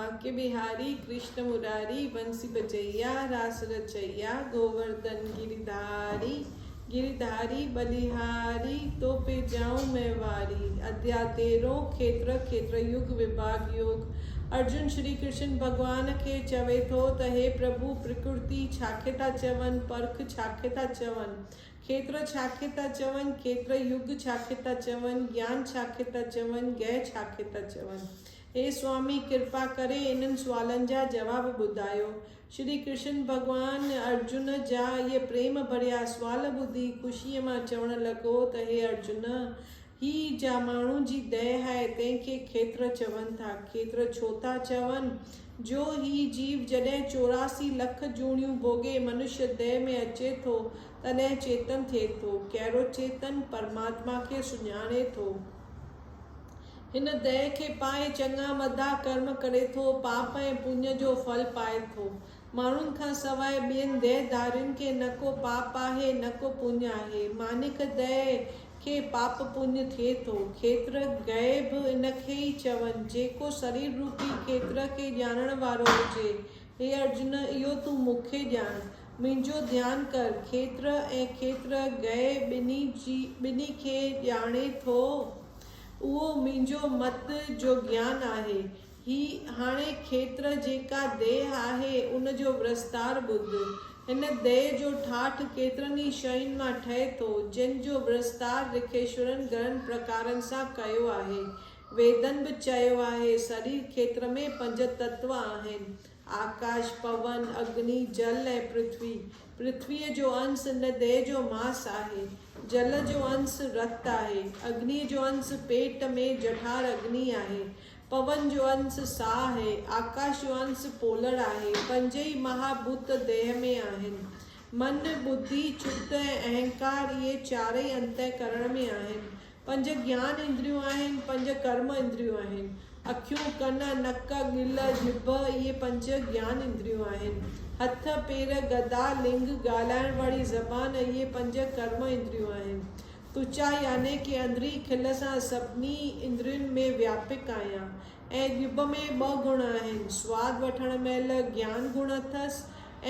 باقي بهاري، ڪرشن مراري، بنسي بجئيا، راس رچئيا، گوورڌن گري ڌاري، گري ڌاري، ٻلهاري، تو پي ڄائون مئن واري، اديا تيرهون، کيتر، کيتر يوگ، وڀاڳ يوگ. ارجن شري ڪرشن ڀڳوان کي چوي ٿو ته هي پرڀو پرڪرتي ڇاکي ٿا چون، پرک ڇاکي ٿا چون، کيتر ڇاکي ٿا چون، کيتر يوگ ڇاکي ٿا چون، گيان ڇاکي ٿا چون، گيهه ڇاکي ٿا چون. هي سوامي ڪرپا ڪري انهن سوالن جا جواب ٻڌايو. شري ڪرشن ڀڳوان ارجن جا اهي پريم ڀريا سوال ٻڌي خوشيء مان چوڻ لڳو ته هي ارجن! هي جا ماڻهو جي ديهه آهي تنهن کي کيتر چون ٿا. کيتر ڇو ٿا چون؟ جو هي جيو جڏهن چوراسي لک جوڻيون ڀوڳي منش ديهه ۾ اچي ٿو تڏهن چيتن ٿئي ٿو. ڪهڙو چيتن؟ پرماتما کي سڃاڻي ٿو. هن ديهه کي پاهي چڱا مدا ڪرم ڪري ٿو، پاپ ۽ پڃ جو ڦل پائي ٿو. ماڻهن کان سواء ٻين ديهه ڌارين کي نه ڪو پاپ آهي نه ڪو پڃ آهي. مانيڪ ديهه کي پاپ پڃ ٿئي ٿو. کيتر گهي به ان کي ئي چون. جيڪو سرير روپي کيتر کي ڄاڻڻ وارو هجي، هي ارجن اهو تون مون کي ڄاڻ. منهنجو ڌيان ڪر. کيتر ۽ کيتر گهي ٻنهي کي ڄاڻي ٿو. اهو منهنجو مت جو گيان آهي. هي هاڻي کيتر جيڪا ديهه آهي، ان جو ورستار ٻڌ. هن ديهه جو ٺاٺ ڪيترن ئي شين مان ٺهي ٿو، جن جو ورستار رکيشورن گهڻن پرڪارن سان ڪيو آهي. ويدن به چيو آهي، سرير کيتر ۾ پنج تتو آهن. آڪاش، پون، اگني، جل ۽ پرٿوي، پرٿويء جو انس ان ديهه جو ماس آهي، جل جو انس رت آهي، اگنيء جو انس پيٽ ۾ جٺار اگني آهي، پون جو انس ساهه آهي، آڪاش جو انس پولڙ آهي، پنجئي مها ڀوت ديهه ۾ آهن، من، ٻڌي، چت ۽ اهنڪار اهي چارئي انتهڪرڻ ۾ آهن، پنج گيان اندريون آهن، پنج ڪرم اندريون آهن. اکيون، ڪن، نڪ، ڳل، ڄڀ اهي پنج گيان اندريون آهن. هٿ، پير، گدا، لنگ، ڳالهائڻ واري زبان اهي پنج ڪرم اندريون آهن. تچا يعني ڪي اندرين کل سان سڀني اندرين ۾ وياپڪ آهيان ۽ ڄڀ ۾ ٻه گڻ آهن، سواد وٺڻ مهل گيان گڻ اٿس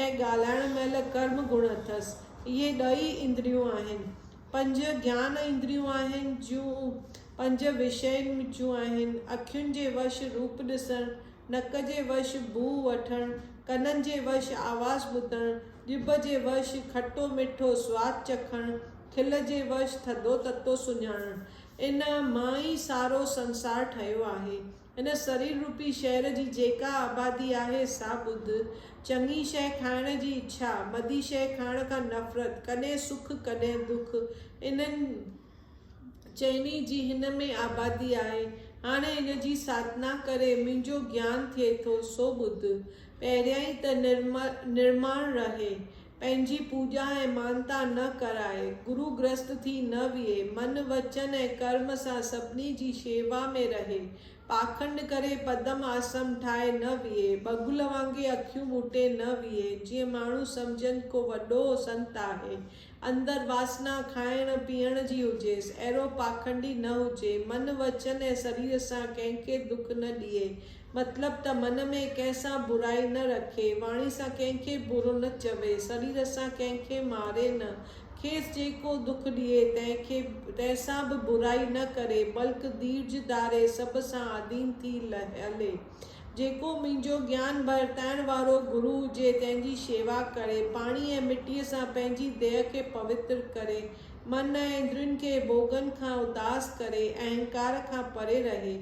۽ ڳالهائڻ مهل ڪرم گڻ اٿس. اهي ڏهه ئي اندريون آهن. پنج گيان اندريون آهن، جون پنج وشين جون آهن، اکين جي وش روپ ڏسڻ، نڪ جي وش بوء وٺڻ، ڪنن جي وش آواز ٻڌڻ، ڄڀ جي وش کٽو مٺو سواد چکڻ، کل جي وش ٿڌو تتو سڃاڻڻ. ان مان ئي سارو سنسار ٺهيو آهي. هن سرير روپي شهر جي جيڪا آبادي آهي سا ٻڌ. چڱي شيء کائڻ جي اڇا، مدي شيء کائڻ کان نفرت، ڪڏهن سک ڪڏهن دک، انهن چئني جي هن ۾ آبادي آهي. هاڻي هن جي ساڌنا ڪري منهنجو گيان ٿئي ٿو سو ٻڌ. پهريائين ته نرماڻ رهي. پنهنجي پوڄا ۽ مانتا نه ڪرائي، گرو گرهست ٿي نه ويهي، من، وچن ۽ ڪرم سان سڀني جي شيوا ۾ رهي، پاکنڊ ڪري پدم آسم ٺاهي نه ويهي، بگل وانگي اکيون ٻوٽي نه ويهي، جيئن ماڻهو سمجهن ڪو وڏو سنت آهي، اندر واسنا کائڻ پيئڻ جي هجيس، اهڙو پاکنڊي نه هجي، من، وچن ۽ سرير سان ڪنهن کي دک نه ڏئي، مطلب ته من ۾ ڪنهن سان برائي نه رکي، واڻي سان ڪنهن کي برو نه چوي، سرير سان ڪنهن کي ماري نه، کيس جيڪو دک ڏئي تنهن کي تنهن سان به برائي نه ڪري، بلڪ ڌيرج ڌاري سڀ سان آڌين ٿي هلي. جيڪو منهنجو گيان ورتائڻ وارو گرو هجي، تنهن جي شيوا ڪري، پاڻي ۽ مٽيء سان پنهنجي ديهه کي پوتر ڪري، من ۽ اندرين کي ڀوڳن کان اداس ڪري، اهنڪار کان پري رهي،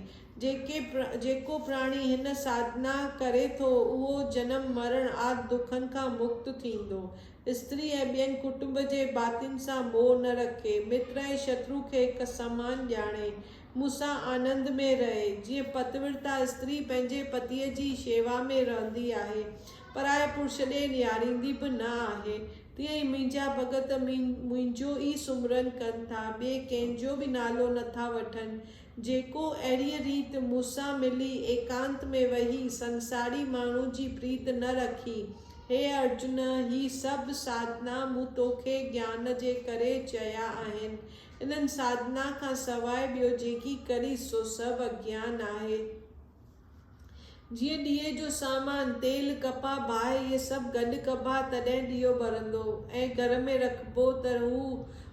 جيڪي جيڪو پراڻي هن ساڌنا ڪري ٿو، اهو جنم مرڻ آد دکن کان مڪت ٿيندو. استري ۽ ٻين ڪٽنب جي ڀاتين سان موهه نه رکي. متر ۽ شترو کي هڪ سمان ڄاڻي. مون سان آنند ۾ رهي. جيئن پتورتا استري پنهنجي پتيء جي شيوا ۾ رهندي آهي، پرائي پرش ڏي نهاريندي به نه آهي، تيئن ئي منهنجا ڀڳت منهنجو ئي سمرن ڪن ٿا، ٻئي ڪنهن جو به نالو نه ٿا وٺن، جيڪو اهڙيء ريت مون سان ملي ايڪانت ۾ ويهي سنساري ماڻهو جي پريت نه رکي. هي ارجن! هي سڀ ساڌنا مون توکي گيان جي ڪري چيا آهن. انهن ساڌنا کان سواء ٻيو جيڪي ڪريس سو سڀ اگيان آهي. جيئن ڏيئي جو سامان، تيل، ڪپهه، باهه اهي سڀ گڏ ڪبا تڏهن ڏيئو ٻرندو ۽ گهر ۾ رکبو ته هو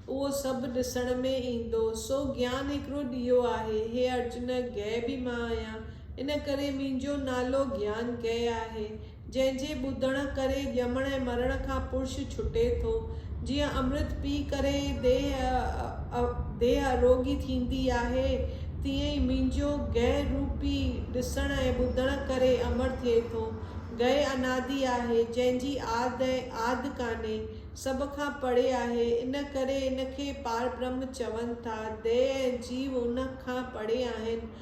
اهو سڀ ڏسڻ ۾ ايندو. سو گيان هڪڙو ڏيئو آهي. هي ارجن، گهه به مان آهيان، ان ڪري منهنجو نالو گيان گهه آهي. جنهن جي ٻڌڻ ڪري ڄمڻ ۽ مرڻ کان پرش ڇٽي ٿو. جيئن امرت پي ڪري ديهه ديهه اروڳي ٿيندي آهي، تيئن ئي منهنجو گئه روپي ڏسڻ ۽ ٻڌڻ ڪري امر ٿئي ٿو. گئه انادي آهي، جنهن جي آد ۽ آد ڪانهي، سڀ کان پري آهي، ان ڪري ان کي پاربرهم چون ٿا. ديهه ۽ جيو ان کان پري آهن،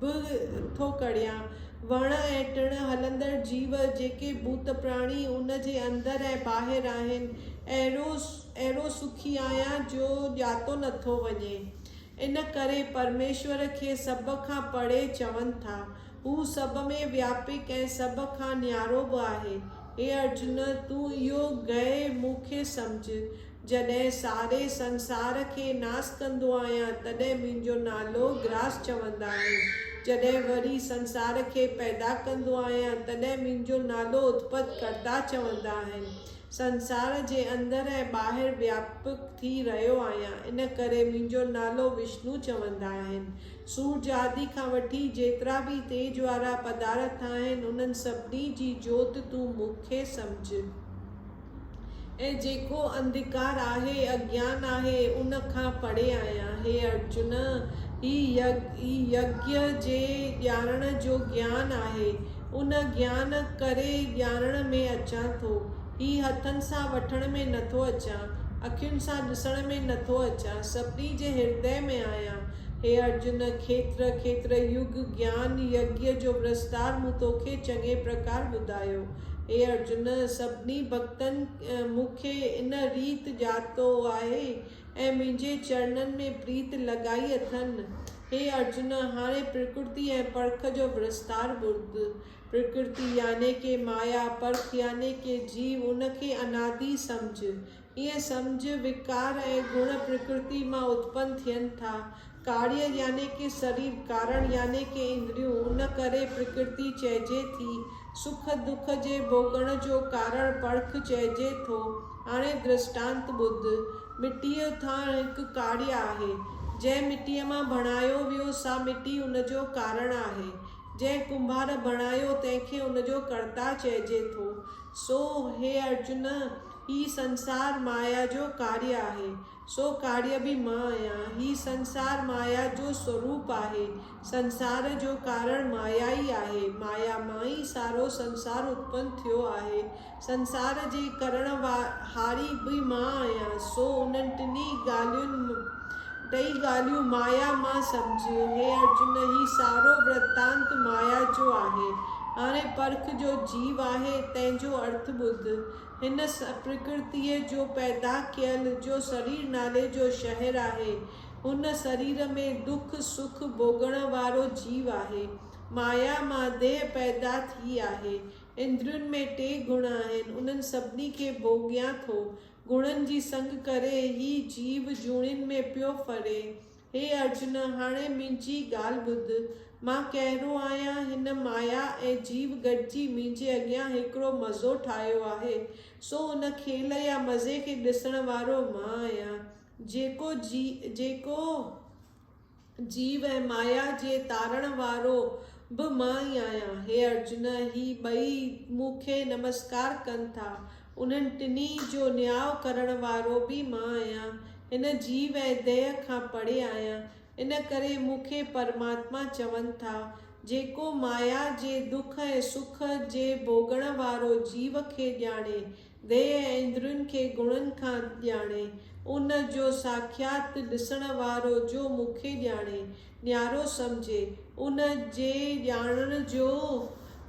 به ٿو ڪڙهيان. وڻ ۽ ٽڻ، هلندڙ جيو، جيڪي ڀوت پراڻي ان جي اندر ۽ ٻاهر آهن، اهڙو اهڙو سکي آهيان جو ڄاتو نٿو وڃي. ان ڪري پرميشور کي سڀ کان پري چون ٿا. هو سڀ ۾ وياپڪ ۽ سڀ کان نيارو به آهي. هي ارجن! تون اهو گهي مون کي سمجهه. جڏهن ساري سنسار کي ناس ڪندو آهيان تڏهن منهنجو نالو گراس چوندا آهن، جڏهن وري سنسار کي پيدا ڪندو آهيان تڏهن منهنجو نالو اتپت ڪرتا چوندا آهن. سنسار جي اندر ۽ ٻاهر وياپڪ ٿي رهيو آهيان ان ڪري منهنجو نالو وشنو چوندا آهن. سورج آدي کان وٺي جيترا به تيج وارا پدارٿ آهن انهن سڀني جي جوت تون مون کي سمجهه. ۽ جيڪو انڌڪار آهي، اجنان آهي، ان کان پري آهيان. هي ارجن! هي يگيا جي ڄاڻڻ جو جيان آهي. ان جيان ڪري ڄاڻڻ ۾ اچان ٿو. هي هٿن سان وٺڻ ۾ نه ٿو اچان، اکين سان ڏسڻ ۾ نه ٿو اچان، سڀني جي هردي ۾ آهيان. هي ارجن! کيتر کيتر يگ جيان يگيا جو وستار مون توکي چڱي پرڪار ٻڌايو. اي ارجن! سڀني ڀڳتن مون کي ان ريت ڄاتو آهي ۽ منهنجي چرڻن ۾ پريت لڳائي اٿن. اي ارجن! هاڻي پرڪرتي ۽ پرک جو وستار ٻڌ. پرڪرتي يعني ڪي مايا، پرک يعني ڪي جيو، ان کي انادي سمجهه. اهي سمجھ، وڪار ۽ گڻ پرڪرتي مان اتپن ٿين ٿا. ڪاريه يعني ڪي سرير، ڪارڻ يعني ڪي اندريون، ان ڪري پرڪرتي چئجي ٿي. سک دک جي ڀوڳڻ جو ڪارڻ پرک چئجي ٿو. هاڻي درشٽانت ٻڌ. مٽيء ٿانء هڪ ڪاريه آهي. جنهن مٽيء مان بڻايو ويو، سا مٽي ان جو ڪارڻ آهي. جنهن ڪنڀار بڻايو، تنهن کي ان جو ڪرتا چئجي ٿو. سو هي ارجن! هي سنسار مايا جو ڪاريه آهي، سو ڪاريه به مان آهيان. هي سنسار مايا جو سوروپ آهي، سنسار جو ڪارڻ مايا ئي آهي. مايا مان ئي سارو سنسار اتپن ٿيو آهي. سنسار جي ڪرڻ هاري به مان آهيان، سو انهن ٽنهي ڳالهين م ٽئي ڳالهيون مايا مان سمجهه. هي ارجن! هي سارو ورتانت مايا جو آهي. هاڻي پرک جو جيو آهي، تنهن جو ارٿ ٻڌ. هن پرڪرتيء جو پيدا ڪيل جو سرير نالي جو شهر آهي. هن سرير ۾ ڏک سک ڀوڳڻ وارو جيو آهي. مايا مان ديهه پيدا ٿي آهي. اندرين ۾ ٽي گڻ آهن. انهن سڀني کي ڀوڳيان ٿو. گڻن جي سنگ ڪري هي جيو جوڻين ۾ پيو ڦري. هي ارجن! هاڻي منهنجي ڳالهه ٻڌ. مان ڪهڙو آهيان؟ هن مايا ۽ جيو گڏجي منهنجي اڳيان هڪڙو مزو ٺاهيو آهي. سو ان کيل يا مزي کي ڏسڻ وارو مان آهيان. جيڪو جي جيڪو جيو ۽ مايا جي تارڻ وارو به مان ئي آهيان. هي ارجن! هي ٻئي مون کي نمسڪار ڪن ٿا. انهن ٽنهي جو نياء ڪرڻ وارو به مان آهيان. هن جيو ۽ ديهه کان پري آهيان. ان ڪري مون کي پرماتما چون ٿا. جيڪو مايا جي دک ۽ سک جي ڀوڳڻ وارو جيو کي ڄاڻي، ديهه ۽ اندرين کي گڻن کان ڄاڻي، ان جو ساکيات ڏسڻ وارو جو مون کي ڄاڻي، نيارو سمجهي، ان جي ڄاڻڻ جو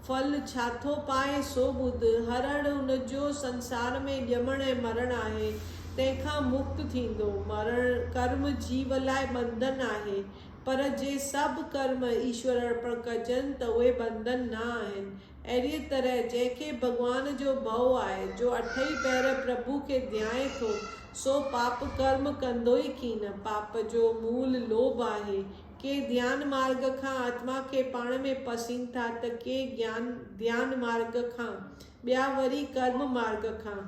ڦل ڇا ٿو پائي، سو ٻڌ. هر اڻ ان جو سنسار ۾ ڄمڻ ۽ مرڻ آهي، تنهن کان مڪت ٿيندو. مرڻ ڪرم جيو لاء ٻنڌن آهي، پر جي سڀ ڪرم ايشور ارپڻ ڪجن ته اهي ٻنڌن نه آهن، اهڙيء طرح جنهن کي ڀڳوان جو ڀئو آهي، جو اٺئي پهر پرڀو کي ڌيائين ٿو، سو پاپ ڪرم ڪندوئي ڪين. پاپ جو مول لوڀ آهي. ڪي ڌيان مارگ کان آتما کي پاڻ ۾ پسين ٿا ته ڪي گيان ڌيان مارگ کان، ٻيا وري ڪرم مارگ کان،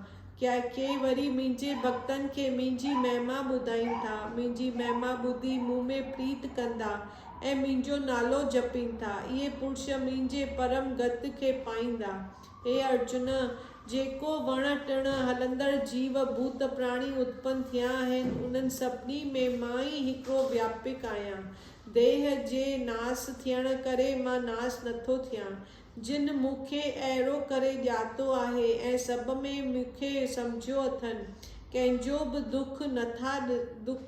ڪي وري منهنجي ڀڳتن کي منهنجي مهما ٻڌائين ٿا، منهنجي مهما ٻڌي مون ۾ پريت ڪندا، ۽ منهنجو نالو جپين ٿا، اهي پرش منهنجي پرم گت کي پائيندا. هي ارجن! جيڪو وڻ ٽڻ، هلندڙ جيو، ڀوت پراڻي اتپن ٿيا آهن، انهن سڀني ۾ مان ئي هڪڙو وياپڪ آهيان. ديهه جي ناس ٿيڻ ڪري مان ناس نٿو ٿيان. جن مون کي اهڙو ڪري ڄاتو آهي ۽ سڀ ۾ مون کي سمجهيو اٿن، ڪنهن جو به دک نٿا ڏسن.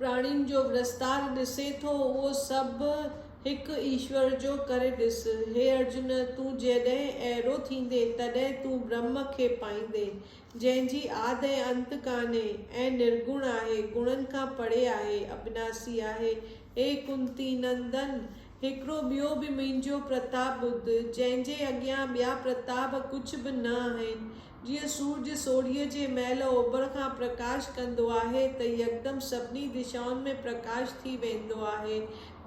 پراڻين جو ورستار ڏسين ٿو، اهو سڀ هڪ ايشور جو ڪري ڏس. هي ارجن! تون جڏهن اهڙو ٿيندين، تڏهن تون برهم کي پائيندين، جنهن جي آد ۽ انت ڪانهي ۽ نرگڻ آهي، گڻن کان پري آهي، ابناسي آهي. اي ڪنتي نندن! هڪڙو ٻيو به منهنجو پرتاب ٻڌ، جنهن جي اڳيان ٻيا پرتاب ڪجهه به نه آهن، جيئن سورج سوڙهيء جي مهل اوڀر کان پرڪاش ڪندو آهي ته يڪدم سڀني دشائن ۾ پرڪاش ٿي ويندو آهي،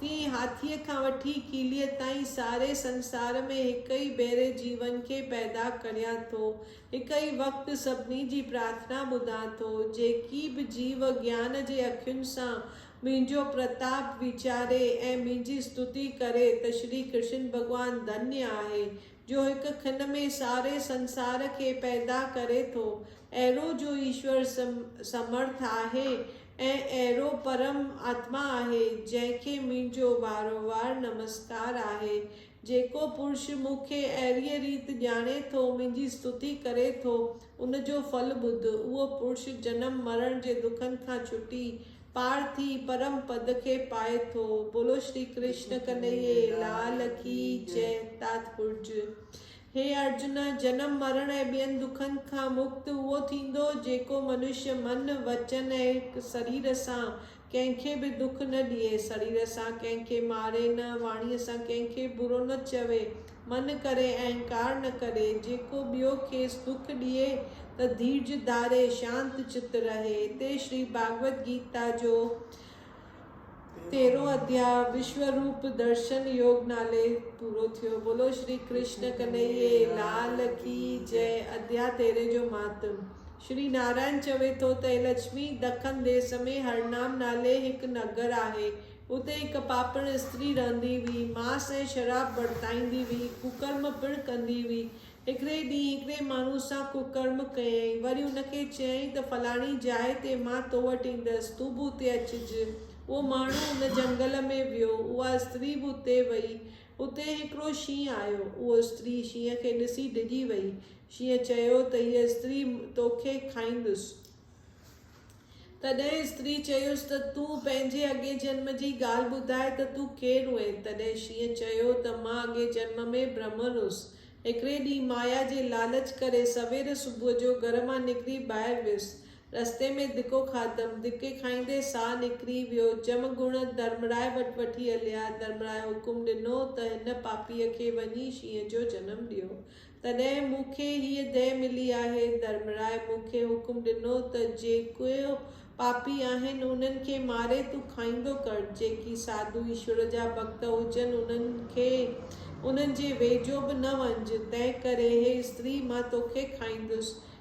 تيئن ئي هاٿيء کان وٺي ڪيليء تائين ساري سنسار ۾ هڪ ئي ڀيري جيون کي پيدا ڪريان ٿو، هڪ ئي وقت سڀني جي پرارٿنا ٻڌان ٿو، جيڪي به جيو گيان جي اکين سان منهنجو پرتاپ ويچاري ۽ منهنجي استتي ڪري ته شري ڪرشن ڀڳوان ڌنيء آهي، جو هڪ کن ۾ ساري سنسار کي پيدا ڪري ٿو، اهڙو جو ايشور سمرٿ آهي ۽ اهڙو پرم آتما آهي، جنهن کي منهنجو وارووار نمسڪار آهي. جيڪو پرش مون کي اهڙيء ريت ڄاڻي ٿو، منهنجي استتي ڪري ٿو، ان جو ڦل ٻڌ، اهو پرش جنم مرڻ جي دکن کان ڇٽي، پار ٿي پرم پد کي پائي ٿو. بولو شري ڪرشن ڪنهيي لال ڪي جئه تاتپرج هي ارجن جنم مرڻ ۽ ٻين دکن کان مڪت اهو ٿيندو جيڪو منشي من وچن ۽ سرير سان ڪنهن کي به دک نه ڏئي سرير سان ڪنهن کي ماري نه واڻي سان ڪنهن کي برو نه چوي من ڪري ۽ انڪار نه ڪري، جيڪو ٻيو کيس دک ڏئي ته ڌيرج ڌاري، شانت چت رهي. هتي شري ڀاڳوت گيتا جو تيرهون اڌياء وشوروپ درشن يوگ نالي پورو ٿيو. بولو شري ڪرشن ڪنهيي لال ڪي جئه اڌياء تيرهين جو مهاتم شري نارائڻ چوي ٿو ته هي لڇمي دکن ديس ۾ هرنام نالي هڪ نگر آهي. اتي هڪ پاپڙ استري رهندي هئي، ماس ۽ شراب ورتائيندي هئي، ڪڪرم پڻ ڪندي هئي. هڪڙي ڏينهن هڪڙي ماڻهو سان ڪڪرم ڪيائين، وري ان کي چيائين ته فلاڻي جاء تي مان تو وٽ ايندس، تون به اتي اچج. اهو ماڻهو ان جهنگل ۾ ويو، اها استري به اتي وئي. اتي هڪڙو شينهن آيو، اهو استري شينهن کي ڏسي ڊڄي وئي. شينهن چيو ته هيء استري توکي کائيندس. تڏهن استري چيس ته تون پنهنجي اڳئين جنم جي ڳالهه ٻڌاء ته تون ڪير هئين؟ تڏهن شينهن چيو ته مان اڳئين جنم ۾ برهمڻ هيس. هڪڙي ڏينهن مايا جي لالچ ڪري سوير صبح جو گهر مان نڪري ٻاهر ويس. رستي ۾ ڌڪو کاڌم. ڌڪي کائيندي ساهه نڪري ويو. جم گڻ ڌرمرائي وٽ وٺي هليا. ڌرمرائي حڪم ڏنو ته هن پاپيء کي وڃي شينهن جو جنم ڏيو. تڏهن مون کي هيء ديهه ملي آهي. ڌرمرائي مون کي حڪم ڏنو ته جيڪي پاپي آهن، انهن کي ماري تون کائيندو ڪر. جيڪي ساڌو ايشور جا ڀڳت هجن، انهن کي انهن جي ويجهو به نه وڃج. تنهنڪري هي استري مان توکي کائيندس.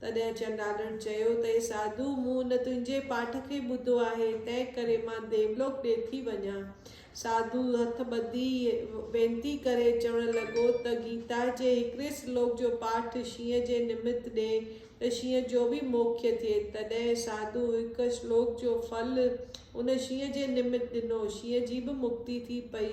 تڏهن چنڊالڻ چيو ته اي ساڌو! مون ان تنهنجي پاٺ کي ٻڌو آهي، تنهن ڪري مان ديولوڪ ڏي ٿي وڃان. ساڌو هٿ ٻڌي وينتي ڪري چوڻ لڳو ته گيتا جي هڪڙي سلوڪ جو پاٺ شينهن جي نمت ڏي ته شينهن جو به موکي ٿئي. تڏهن ساڌو هڪ سلوڪ جو ڦل ان شينهن جي نمت ڏنو. شينهن جي به مڪتي ٿي پئي.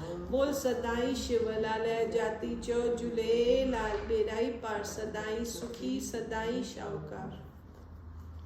بول سدائين شو لال جاتي چئو جهليلال ٻيڙائي پار سدائين سکي سدائين شاهوڪار.